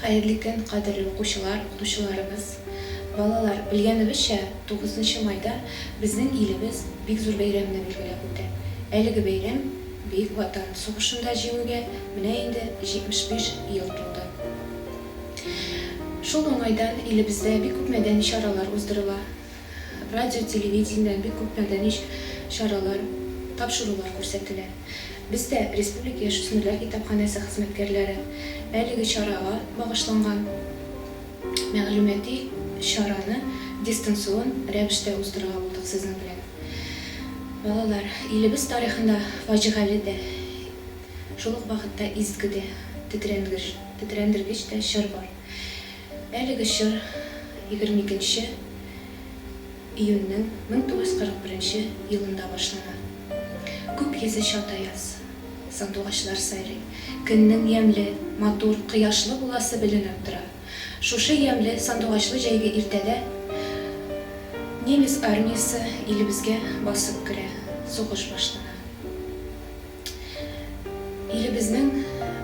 Хәерле көн, кадерле укучылар, укытучыларыбыз, балалар! Белгәнебезчә, тугызынчы майда безнең илебез бик зур бәйрәмне билгеләп үтә. Әлеге бәйрәм Бөек Ватан сугышында Җиңүгә менә инде 75 ел тулды. Шул уңайдан илебездә бик күп мәдәни чаралар уздырыла. Радио, телевидение, бик күп мәдәни чаралар, тапшырулар күрсәтелә. Без дә, республика яшүсмерләр китапханәсе хезмәткәрләре, әлеге чарага багышланган мәгълүмати чараны дистанцион рәвештә уздырырга булдык сезнең белән. Балалар, илебез тарихында фаҗигале дә, шул ук вакытта изге дә, тетрәндергеч тә чор бар. Әлеге чор егерме икенче июньнең мең тугыз йөз кырык беренче елында башлана. Күк йөзе чат аяз, сандугачлар сайрый, көннең ямьле, матур, кояшлы буласы беленеп тора. Шушы ямьле, сандугачлы җәйге иртәдә немец армиясе илебезгә басып керә, сугыш башлана. Илебезнең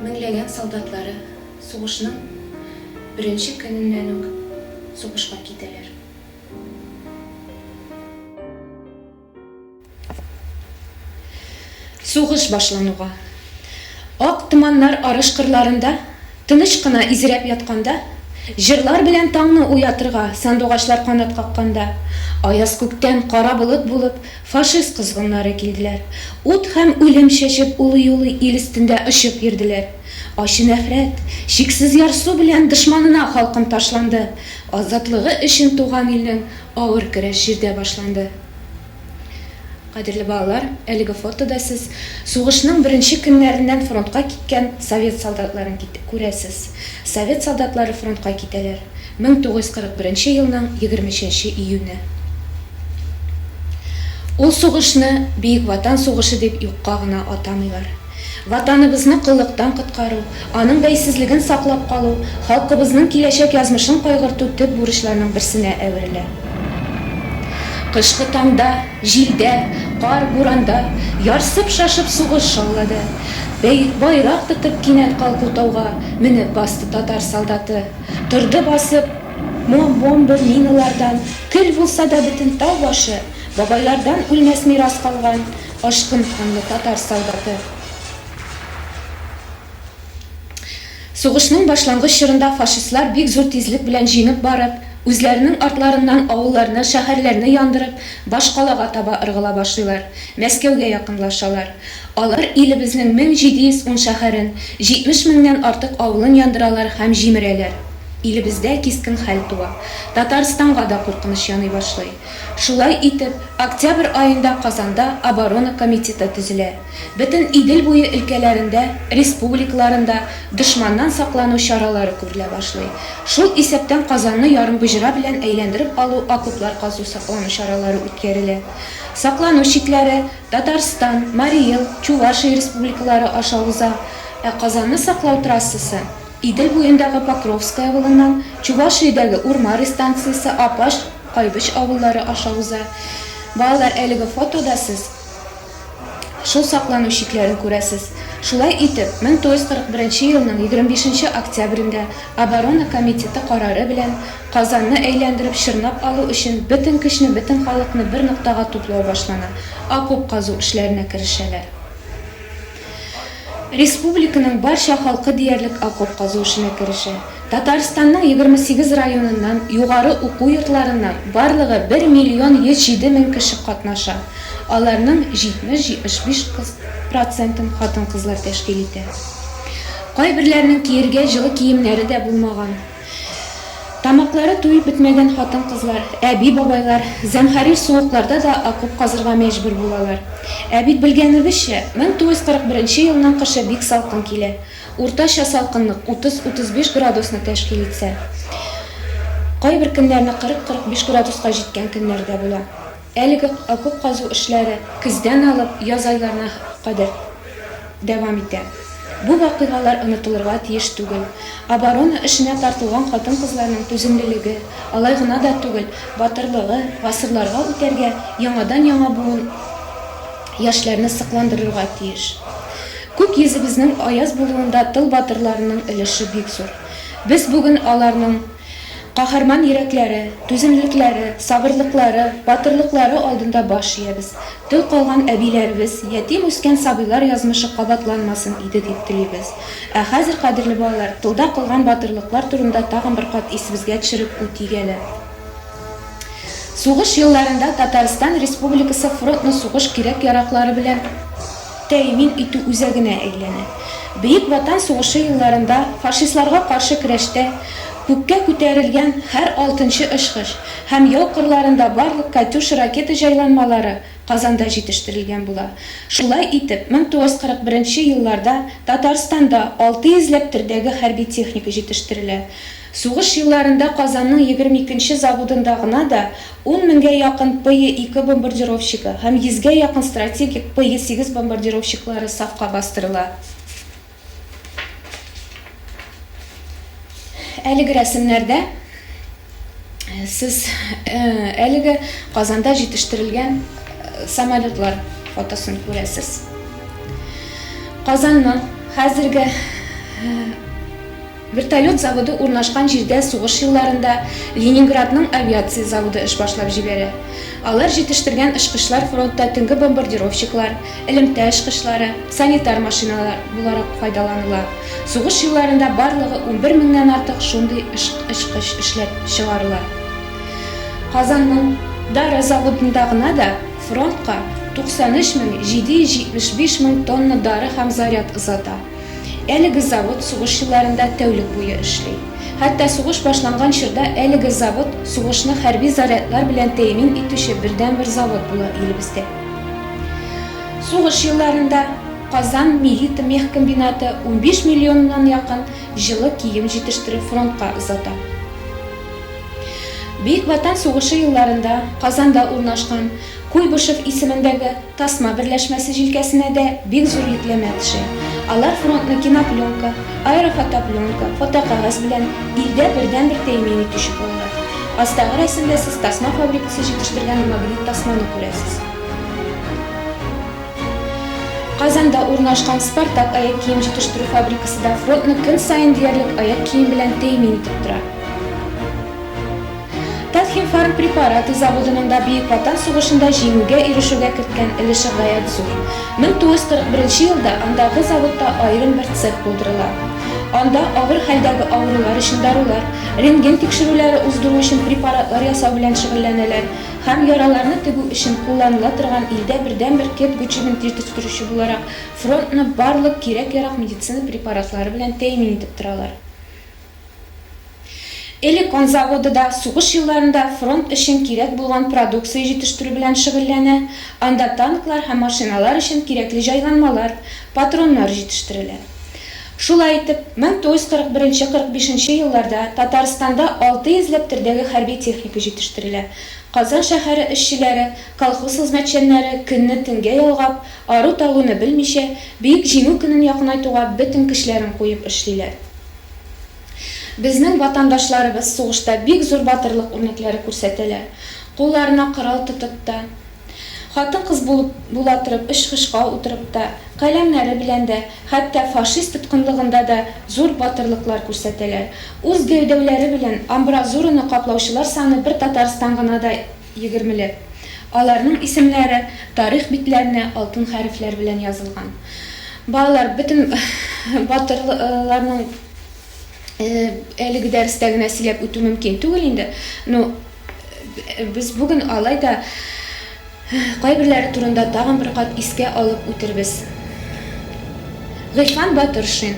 меңләгән солдатлары сугышның беренче көненнән үк сугышка китәләр. Сугыш башлануга, ак томаннар арыш кырларында тыныч кына изрәп ятканда, җырлар белән таңны уятырга сандугачлар канат какканда, аяз күктән кара болыт булып Фашист козгыннары килделәр. Ут һәм үлем чәчеп улый-улый ил өстендә очып йөрделәр. Ачы нәфрәт, чиксез ярсу белән дошманына халкым ташланды. Азатлыгы өчен туган илнең авыр көрәш җирдә башланды. Кадерле балалар, әлеге фотода сез сугышның беренче көннәреннән фронтка киткән совет солдатларын кит күрәсез. Совет солдатлары фронтка китәләр. Мең тугыз йөз кырык беренче елның егерме өченче июне. Ул сугышны Бөек Ватан сугышы дип юкка гына атамыйлар. Ватаныбызны коллыктан коткару, аның бәйсезлеген саклап калу, халкыбызның киләчәк язмышын кайгырту төп бурычларның берсенә әверелә. Кышкы таңда, җилдә, кар-буранда, ярсып-шашып сугыш шаулады. Бәй, байрак тотып кинәт калку тауга менеп басты татар солдаты. Торды басып, Мом-мом бер Линалардан Көл булса да бөтен тау башы, Бабайлардан үлмәс мирас калган Ашкын канлы татар солдаты. Сугышның башлангыч чорында фашистлар бик зур тизлек белән җиңеп барып, үзләренең артларыннан авылларны, шәһәрләрне яндырып, башкалага таба ыргыла башлыйлар, Мәскәүгә якынлашалар. Алар илебезнең 1710 шәһәрен, 70 меңнән артык авылын яндыралар һәм җимерәләр. Илебездә кискен хәл туа. Татарстанга да куркыныч яный башлый. Шулай итеп, октябрь аенда Казанда оборона комитеты төзелә. Бөтен Идел буе өлкәләрендә, республикаларында дошманнан саклану чаралары күрелә башлый. Шул исәптән Казанны ярымбоҗра белән әйләндереп алу, окоплар казу, саклану чаралары үткәрелә. Саклану чикләре, Татарстан, Марий Эл, Чувашия республикалары аша уза, ә Казанны саклау трассасы, Идел буендагы Покровское авылыннан Чувашиядәге Урмари станциясе, Апаш, Кайбыч авыллары аша уза. Балалар, әлеге фотода сез шул саклану чикләрен күрәсез. Шулай итеп, 1941 елның 25 октябрендә Оборона комитеты карары белән Казанны әйләндереп чорнап алу өчен бөтен көчне, бөтен халыкны бер ноктага туплау башлана, окоп казу эшләренә керешәләр. Республиканың барча халкы диярлек окоп казу эшенә керешә. Татарстанның егерме сигез районыннан, югары уку йортларыннан барлыгы бер миллион йөз җиде мең кеше катнаша, аларның җитмеш-җитмеш биш процентын хатын-кызлар тәшкил итә. Кайберләренең киергә җылы киемнәре дә булмаган. Тамаклары туеп бетмәгән хатын-кызлар, әби-бабайлар зәмһәрир суыкларда да окоп казырга мәҗбүр булалар. Ә бит белгәнебезчә, 1941 елның кышы бик салкын килә. Уртача салкынлык 30-35 градусны тәшкил итсә, кайбер көннәрне 40-45 градуска җиткән көннәр дә була. Әлеге окоп казу эшләре көздән алып яз айларына кадәр дәвам итә. Бу вакыйгалар онытылырга тиеш түгел. Оборона эшенә тартылган хатын-кызларның түземлелеге, алай гына да түгел, батырлыгы гасырларга үтәргә, яңадан-яңа буын яшьләрне сокландырырга тиеш. Күк йөзебезнең аяз булуында тыл батырларының өлеше бик зур. Без бүген аларның. Каһарман йөрәкләре, түземлекләре, сабырлыклары, батырлыклары алдында баш иябез. Тол калган әбиләребез, ятим үскән сабыйлар язмышы кабатланмасын иде дип телибез. Ә хәзер, кадерле балалар, тылда кылган батырлыклар турында тагын бер кат исебезгә төшереп үтик әле. Сугыш елларында Татарстан Республикасы фронтны сугыш кирәк-яраклары белән, тәэмин итү үзәгенә әйләнә. Бөек Ватан сугышы елларында фашистларга каршы көрәштә күккә күтәрелгән һәр алтынчы очкыч һәм яу кырларында барлык Катюша ракета җайланмалары Казанда җитештерелгән була. Шулай итеп, 1941 елларда Татарстанда алты йөзләп төрдәге хәрби техника җитештерелә. Сугыш елларында Казанның егерме икенче заводында гына да ун меңгә якын ПЕ-ике бомбардировщигы һәм йөзгә якын стратегик ПЕ-сигез бомбардировщиклары сафка бастырыла. Әлеге рәсемнәрдә сез әлеге Казанда җитештерелгән самолетлар фотосын күрәсез. Казанның хәзерге. Вертолет заводы урнашкан җирдә сугыш елларында Ленинградның авиация заводы эш башлап җибәрә. Алар җитештергән очкычлар фронтта төнге бомбардировщиклар, элемтә очкычлары, санитар машиналар буларак файдаланыла. Сугыш елларында барлыгы унбер меңнән артык шундый очкыч эшләп чыгарыла. Казанның Дары заводында гына да фронтка 93 мең 775 мең тонна дары һәм заряд озата. Әлеге завод сугыш елларында тәүлек буе эшли. Хәтта сугыш башланган чорда әлеге завод сугышны хәрби зарядлар белән тәэмин итүче бердәнбер завод була илебездә. Сугыш елларында Казан милитмехкомбинаты унбиш миллионнан якын җылы кием җитештереп фронтка озата. Бөек Ватан сугышы елларында Казанда урнашкан Куйбышев исемендәге Тасма берләшмәсе җилкәсенә дә бик зур йөкләмә төшә. Алар фронтны кинопленка, аэрофотопленка, фотокәгазь белән илдә бердәнбер тәэмин итүче булалар. Астагы рәсемдә сез тасма фабрикасы җитештергән магнит тасманы күрәсез. Казанда урнашкан Спартак аяк кием җитештерү фабрикасы да фронтны көн саен диярлек аяк кием белән тәэмин итеп тора. Татхимфарм препараты заводының да Бөек Ватан сугышында җиңүгә ирешүгә керткән өлеше гаять зур. 1941 нче елда андагы заводта аерым бер цех булдырыла. Анда авыр хәлдәге авырулар өчен дарулар, рентген тикшерүләре уздыру өчен препаратлар ясау белән шөгыльләнәләр һәм яраларны тегү өчен кулланыла торган илдә бердәнбер кет гөчеген тиртештерүче буларак фронтны барлык кирәк-ярак медицина препаратлары белән тәэмин итеп торалар. Элек он заводы да сугыш елларында фронт өчен кирәк булган продукция җитештерү белән шөгыльләнә, анда танклар һәм машиналар өчен кирәкле җайланмалар, патроннар җитештерелә. Шулай итеп, 1941-45 нче елларда Татарстанда алты йөзләп төрдәге хәрби техника җитештерелә. Казан шәһәре эшчеләре, колхоз хезмәтчәннәре көнне төнгә ялгап, ару-талуны белмичә, Бөек Җиңү көнен якынайтуга бөтен көчләрен куеп эшлиләр. Безнең ватандашларыбыз сугышта бик зур батырлык үрнәкләре күрсәтәләр. Кулларына корал тотып та, хатын-кыз булып була торып очкычка утырып та, каләмнәре белән дә, хәтта фашист тоткынлыгында да зур батырлыклар күрсәтәләр. Үз гәүдәүләре белән амбразураны каплаучылар саны бер Татарстан гына да Егермеле. Аларның исемләре тарих битләренә алтын хәрефләр белән язылган. Балалар, бөтен батырларның әлеге дәрестә генә сөйләп үтү мөмкин түгел инде. Ну, без бүген алай да кайберләре турында тагын бер кат искә алып үтербез. Гыйфан Батыршин.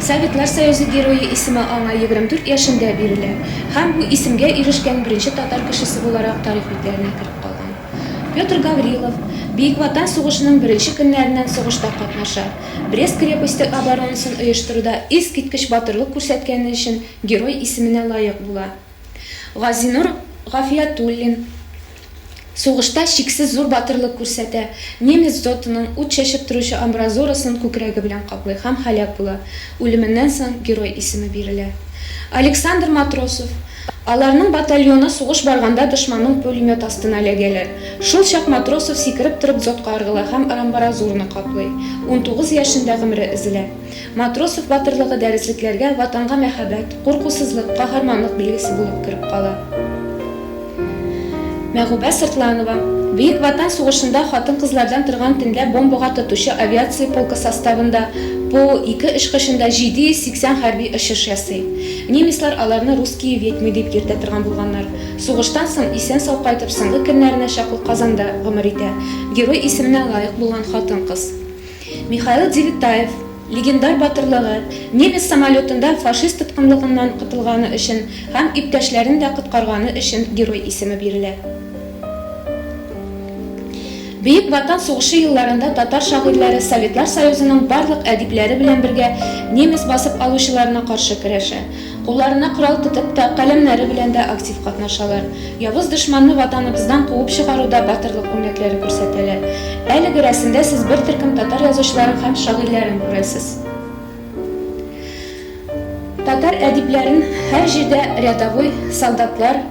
Советлар Союзы Герое исеме аңа егерме дүрт яшендә бирелә һәм бу исемгә ирешкән беренче татар кешесе буларак тарих битләренә кереп калган. Петр Гаврилов Бөек Ватан сугышының беренче көннәреннән сугышта катнаша, Брест крепосте оборонасын оештыруда искиткеч батырлык күрсәткәне өчен Герой исеменә лаек була. Газинур Гафиятуллин сугышта чиксез зур батырлык күрсәтә, немец дотының ут чәчеп торучы амбразурасын күкрәге белән каплый һәм һәлак була, үлеменнән соң Герой исеме бирелә. Александр Матросов Аларның батальоны сугыш барганда дошманның пулемет астына эләгәләр. Шул чак Матросов сикереп торып дзотка ыргыла һәм арамбаразураны каплый. Унтугыз яшендә гомере өзелә. Матросов батырлыгы дәреслекләргә Ватанга мәхәббәт, куркусызлык, каһарманлык билгесе булып кереп кала. Мәгубә Сыртланова, Бөек Ватан сугышында хатын-кызлардан торган төнлә бомбага тотучы авиация полкы составында Пу, ике очкычында 780 хәрби очыш ясый. Немецлар аларны русские ведьмы дип йөртә торган булганнар. Сугыштан соң исән-сау кайтып соңгы көннәренә чаклы Казанда гомер итә. Герой исеменә лаек булган хатын-кыз. Михаил Девитаев легендар батырлыгы, немец самолетында фашист тоткынлыгыннан котылганы өчен һәм иптәшләрен дә коткарганы өчен Герой исеме бирелә. Бөек Ватан сугышы елларында татар шагыйрьләре Советлар Союзының барлык әдипләре белән бергә немец басып алучыларына каршы көрәшә. Кулларына корал тотып та, каләмнәре белән дә актив катнашалар. Явыз дошманны Ватаныбыздан куып чыгаруда батырлык үрнәкләре күрсәтәләр. Әлеге рәсемдә сез бер төркем татар язучыларын һәм шагыйрьләрен күрәсез. Татар әдипләрен һәр җирдә рядовой, солдатлар,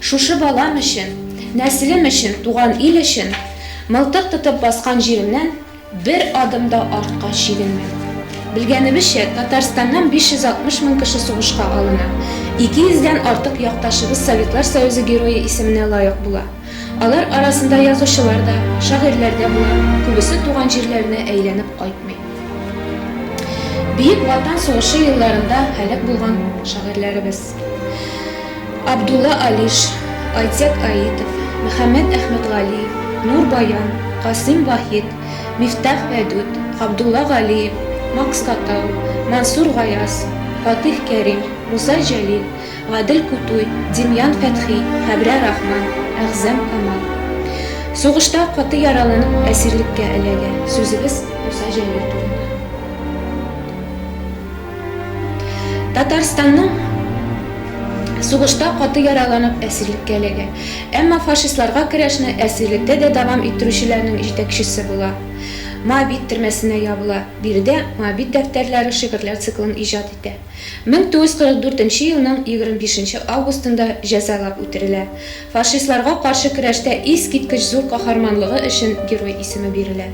Шушы балам өчен, нәселем өчен, туган ил өчен мылтык тотып баскан җиремнән бер адым да артка чигенмим. Белгәнебезчә, Татарстаннан 560 мең кеше сугышка алына, 200 дән артык якташыбыз Советлар Союзы Герое исеменә лаек була. Алар арасында язучылар да, шагыйрьләр дә була, күбесе туган җирләренә әйләнеп кайтмый. Бөек Ватан сугышы елларында һәлак булган шагыйрьләребез. Абдулла Алиш, Айцек Аитов, Мөхәммәд Әхмәтгалиев, Нур Баян, Касыйм Вахит, Мифтах Вәдүт, Габдулла Галиев, Макс Катау, Мансур Гаяз, Фатих Кәрим, Муса Җәлил, Гадел Кутуй, Демьян Фәтхи, Хәбрә Рахман, Әгъзам Камал. Сугышта каты яраланып әсирлеккә эләгә. Сүзебез Муса Җәлил турында. Татарстанның сугышта каты яраланып әсирлеккә эләгә. Әмма фашистларга көрәшне әсирлектә дә дәвам иттерүчеләрнең җитәкчесе була. Моабит төрмәсенә ябыла. Биредә Моабит дәфтәрләре шигырьләр циклын иҗат итә. 1944 нче елның 25 нче августында җәзалап үтерелә. Фашистларга каршы көрәштә искиткеч зур каһарманлыгы өчен Герой исеме бирелә.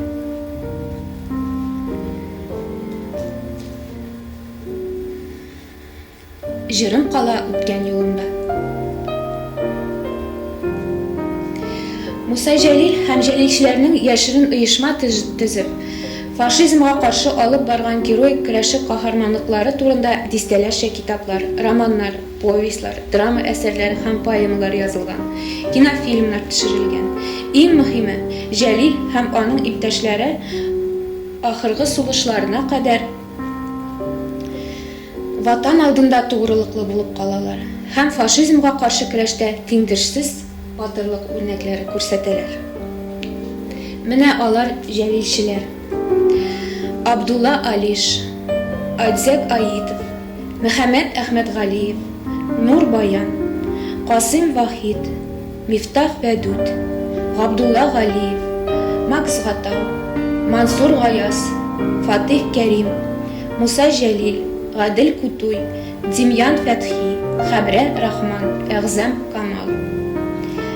Җырым кала үткән юлымда. Муса Җәлил һәм җәлилчеләрнең яшерен оешма төзеп, фашизмга каршы алып барган героик көрәше каһарманлыклары турында дистәләрчә китаплар, романнар, повестьлар, драма әсәрләре һәм поэмалар язылган, кинофильмнар төшерелгән. Иң мөһиме, Җәлил һәм аның иптәшләре Ахыргы сулышларына кадәр Ватан алдында тугрылыклы булып калалар һәм фашизмга каршы көрәштә тиңдешсез батырлык үрнәкләре күрсәтәләр. Менә алар җәлилчеләр. Абдулла Алиш, Айдзек Аитов, Мөхәммәт Әхмәтгалиев, Нур Баян, Касыйм Вахит, Мифтах Вәдүт, Габдулла Галиев, Макс Гатау, Мансур Гаяз, Фатыйх Кәрим, Муса Җәлил, Гадел Кутуй, Демьян Фәтхи, Хәбрә Рахман, Әгъзам Камал.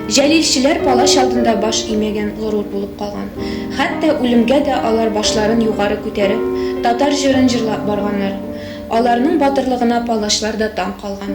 Җәлилчеләр палач алдында баш имәгән горур булып калган. Хәтта үлемгә дә алар башларын югары күтәреп, татар җырын җырлап барганнар. Аларның батырлыгына палачлар да таң калган.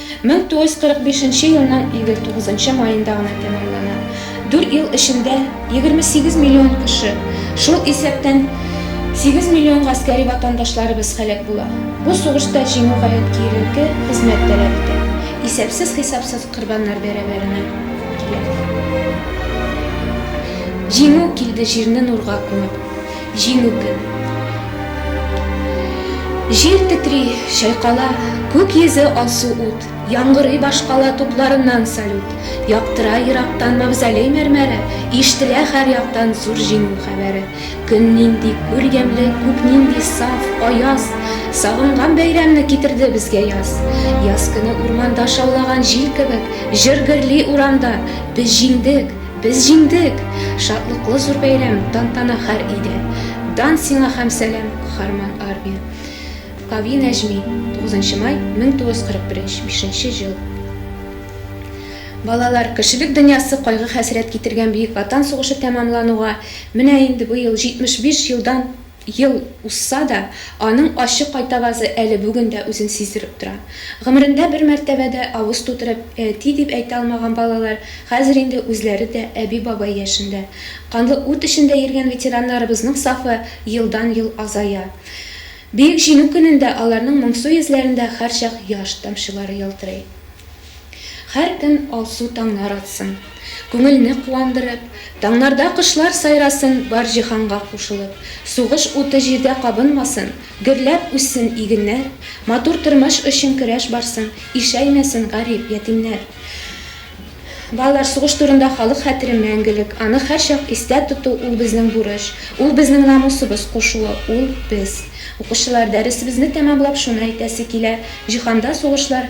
Мең тугыз йөз кырык бишенче елның егерь тугызынчы маенда гына тәмамлана. Дүрт ел эчендә егерме сигез миллион кеше, шул исәптән сигез миллион гаскәри ватандашларыбыз һәлак була. Бу сугышта җиңү гаять киеренке хезмәт таләп итә, исәпсез-хисапсыз корбаннар бәрабәренә килә. Җиңү килде җирне нурга күмеп. Җиңү көн. Җир тетри, чайкала, күк йөзе алсу ут, яңгырый башкала тупларыннан салют, яктыра ерактан мавзолей мәрмәре, ишетелә һәр яктан зур җиңү хәбәре. Көн нинди гүр ямьле, күк нинди саф, аяз, сагынган бәйрәмне китерде безгә яз. Яз көне урманда шаулаган җил кебек, җыр гөрли урамда, без җиңдек! Без җиңдек! Шатлыклы зур бәйрәм, тантана хәр өйдә. Дан сиңа һәм сәлам, каһарман армия! Кави Нәҗми, 9 май, 1941, бишенче җыл. Балалар, кешелек дөньясы кайгы-хәсрәт китергән Бөек Ватан сугышы тәмамлануга менә инде быел 75 елдан Ел узса да, аның ачы кайтавазы әле бүген дә үзен сиздереп тора. Гомерендә бер мәртәбә дә авыз тутырып әти дип әйтә алмаган балалар хәзер инде үзләре дә әби-бабай яшендә. Канлы ут эчендә йөргән ветераннарыбызның сафы елдан-ел азая. Бөек Җиңү көнендә аларның моңсу йөзләрендә һәрчак яшь тамчылары ялтырый. Һәркөн алсу таңнар атсын, Күңелне куандырып, Таңнарда кошлар сайрасын, Бар җиһанга кушылып. Сугыш уты җирдә кабынмасын, Гөрләп үссен игеннәр, Матур тормыш өчен көрәш барсын, Ишәймәсен гарип, ятимнәр. Балалар, сугыш турында халык хәтере мәңгелек, аны һәрчак истә тоту, ул безнең бурыч, ул безнең намусыбыз кушуы, ул, без. Укучылар, дәресебезне тәмамлап, шуны әйтәсе килә, җиһанда сугышлар,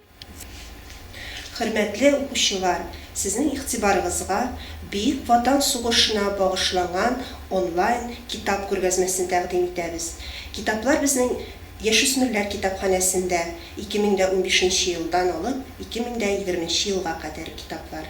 Хөрмәтле укучылар, сезнең игътибарыгызга Бөек Ватан сугышына багышланган онлайн китап күргәзмәсен тәкъдим итәбез. Китаплар безнең Яшүсмерләр китапханәсендә 2015 нче елдан алып 2020 нче елга кадәр китаплар.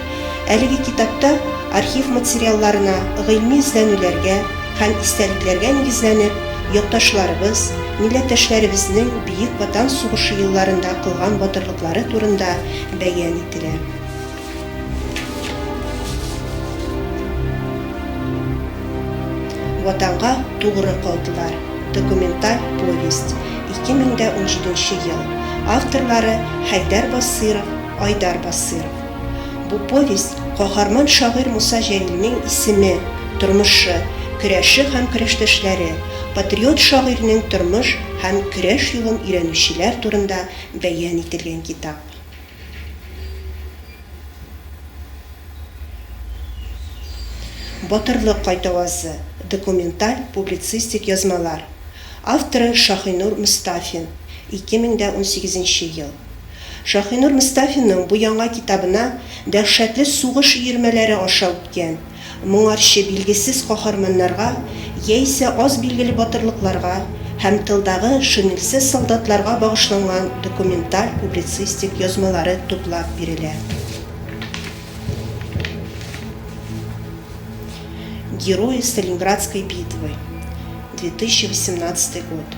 Әлеге китапта архив материалларына, гыйльми эзләнүләргә һәм истәлекләргә нигезләнеп, якташларыбыз, милләттәшләребезнең Бөек Ватан сугышы елларында кылган батырлыклары турында бәян ителә. Ватанга тугры калдылар документаль повесть, 2017 ел, авторлары, Хәйдәр Басыйров, Айдар Басыйров. Бу повесть, каһарман шагыйрь Муса Җәлилнең исеме, тормышы, көрәше һәм көрәштәшләре, патриот шагыйрьнең тормыш һәм көрәш юлын өйрәнүчеләр турында бәян ителгән китап. Батырлык кайтавазы, документаль-публицистик язмалар. Авторы Шаһинур Мостафин, 2018 нче ел. Шаһинур Мостафинның бу яңа китабына дәһшәтле сугыш өермәләре аша үткән, моңарчы билгесез каһарманнарга яисә аз билгеле батырлыкларга һәм тылдагы шинельсез солдатларга багышланган документаль-публицистик язмалары туплап бирелә. Герои Сталинградской битвы, 2018 год.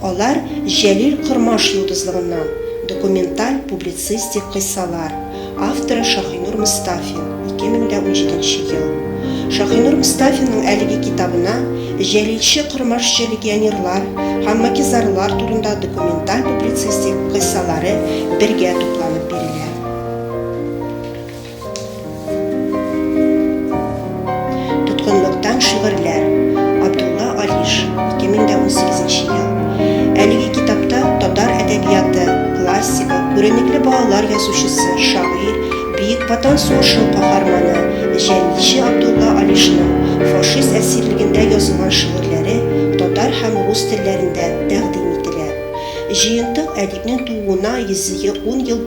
Алар Җәлил Кормаш йолдызлыгыннан, документаль публицистик кыйссалар, авторы Шаһинур Мостафин, 2017 ел. Шаһинур Мостафинның әлеге китабына җәлилче кормашчы легионерлар һәм макизарлар турында документаль-публицистик кыйссалары бергә тупланып бирелә. Тоткынлыктан шигырьләр, Абдулла Алиш, 2018 ел. Әлеге китапта татар әдәбияты классигы, күренекле балалар язучысы, шагыйрь, Бөек Ватан сугышы каһарманы, җәлилче Абдулла Алишның фашист әсирлегендә язылган шигырьләре татар һәм рус телләрендә тәкъдим ителә. Җыентык әдипнең тууына 110 ел